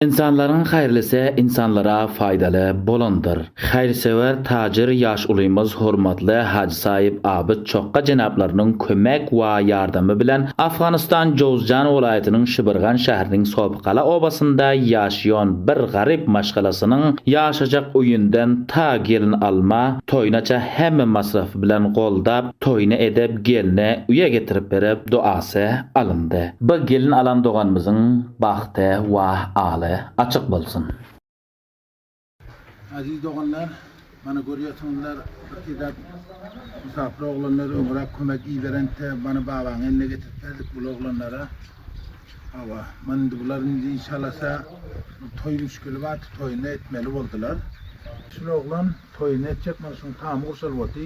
Ynsanlaryň haýrlysy ynsanlara faýdaly bolandyr. Haýyrsöwer tajyr ýaş ulymyz hormatly Hajy Saýyp Abyt Çokga jenaplarynyň kömek wa ýardamy bilen Afganystan Jowzjan welaýatynyň Şibirgan şähriniň Sopygala obasynda ýaşaýan bir garyp maşgalasynyň ýaşajak öýünden ta gelin alma toýunaça hemme masrafy bilen goldap toýuny edip gelini uýa getirip berip duasy alyndy. Bu gelin alan doganymyzyň Bagty wah aly açyk bolsun. Aziz doganlar mana görýärsiňizler bir edäp musapyr oglanlar öňüräk kömek iberentde mana babaň eline getirip berdik bul oglanlara hawa mana indi bular indi şalasa bir toý müşgili bardy toýuny etmeli boldylar şul oglan toýuny etjek mana şuň tamy gurşalyp oty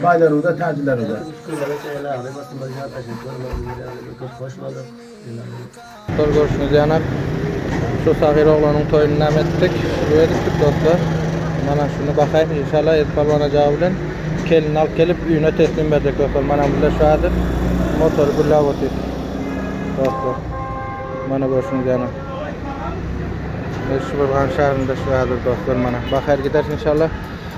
Baýlaryňyza, täjleriňize. Üç günlere çenli agzybir oturma ýatlaşyk görmegiňize köp hoş bolduk. Şol görşüňiz ýalam, şu sahyr oglanyň toýuny näme etdik? Şuny edipdik dostlar. Mana şuny bakaýyň, inşallah Edi Pälwan ajaga bilen kelini alyp gelip üýne teslim berjek dostlar. Mana bile şu häzir motory gülläp otyr. Dostlar. Mana görşüňiz ýalam. Meşhurhan şäherinde şu häzir dostlar mana. Bakaýyr gider inşallah.